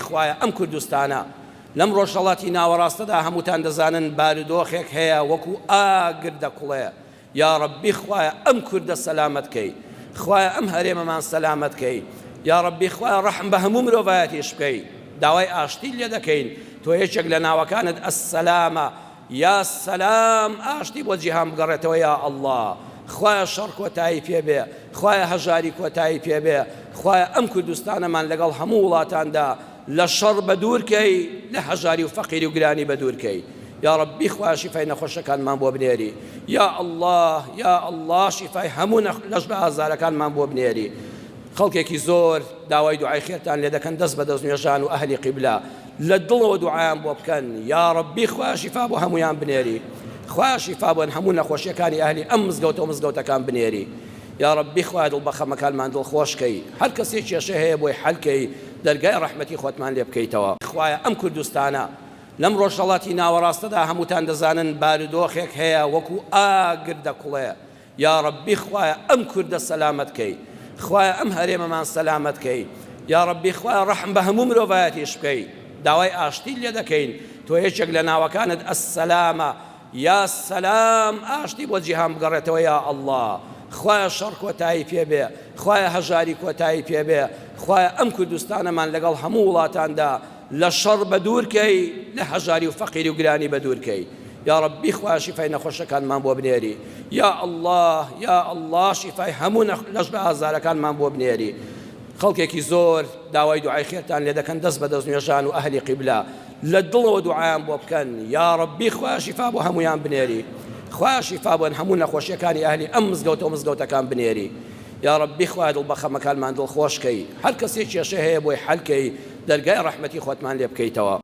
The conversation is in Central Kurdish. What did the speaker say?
خوایە ئەم کوردستانە لەم ڕۆژهەڵاتی ناوەڕاستەدا هەمووتان دەزانن بارودۆخێک هەیە وەکو ئاگر دەکوڵێ یاڕەبی خوایە ئەم کوردە سەلامەت کەی خوایە ئەم هەرێمەمان سەلامەت کەی یاڕەبی خوایە ڕەحم بە هەموو مرۆڤایەتیش بکەی داوای ئاشتیت لێ دەکەین تۆ یەکێک لە ناوەکانت السلامە یا سەلام ئاشتی بۆ جیهان بگەڕێتەوە یا اللە خوایە شەڕ کۆتایی پێ بێ خوایە هەژاری کۆتایی پێ بێ خوایە ئەم کوردستانەمان لەگەڵ هەموو وڵاتاندا لە شەڕ بە دوور کەی لە هەژاری و فەقیری و گرانی بە دوور کەی یا ربی خوایە شیفای نەخۆشەکانمان بۆ بنێری یا اللە یا اللە شیفای هەموو لەش بە ئازارەکانمان بۆ بنێری خەڵکێکی زۆر داوای دوعای خێرتان لێ دەکەن دەست بە دەست نوێژان و ئەهلی قیبلا لە دڵەوە دوعایان بۆ بکەن یاڕەبی خوایە شیفا بۆ هەموویان بنێری خوایە شیفا بۆن هەموو نەخۆشیەکانی ئەهلی ئەم مزگەوتەو مزگەوتەکان بنێری یاڕەبی خوایە دڵ بەخەمەکانمان دڵ خۆش کەی هەر کەسێ کێشە هەیە بۆی حەل کەی دەرگای ڕەحمەتی خۆتمان لێ بکەیتەوە خوایە ئەم کوردستانە لەم ڕۆژهەڵاتی ناوەڕاستەدا هەمووتان دەزانن بارودۆخێک هەیە وەکو ئاگر دەکوڵێ یاڕەبی خوایە ئەم کوردە سەلامەت کەی خوایە ئەم هەرێمەمان سەلامەت کەی یاڕەبی خوایە ڕەحم بە هەموو مرۆڤایەتیش بکەی داوای ئاشتیت لێ دەکەین تۆ یەکێک لە ناوەکانت السلامە یا سەلام ئاشتی بۆ جیهان بگەڕێتەوە یا ئەڵڵا خوایە شەڕ کۆتایی پێبێ خوایە هەژاری کۆتایی پێبێ خوایە ئەم کوردستانەمان لەگەڵ هەموو وڵاتاندا لە شەڕ بە دوور کەی لە هەژاری و فەقیری و گرانی بە دوور کەی یاڕەبی خوا شیفای نەخۆشەکانمان بۆ بنێری یا اللە یا اللە شیفای هەموو لەش بە ئازارەکانمان بۆ بنێری خەڵکێکی زۆر داوای دوعای خێرتان لێ دەکەن دەست بە دەست نوێژان و ئەهلی قیبلا لە دڵەوە دوعایان بۆ بکەن یا ڕەبی خوا شیفا بۆ هەمویان بنێری خوا شیفا بۆن هەموو نەخۆشیەکانی ئەهلی ئەم مزگەوتە و مزگەوتەکان بنێری یاڕەبی خوایە دڵ بەخەمەکانمان دڵخۆش کەی هەرکەسێ کێشەی هەیە بۆی حەل کەی دەرگای ڕەحمەتی خۆتمان لێ بکەیتەوە.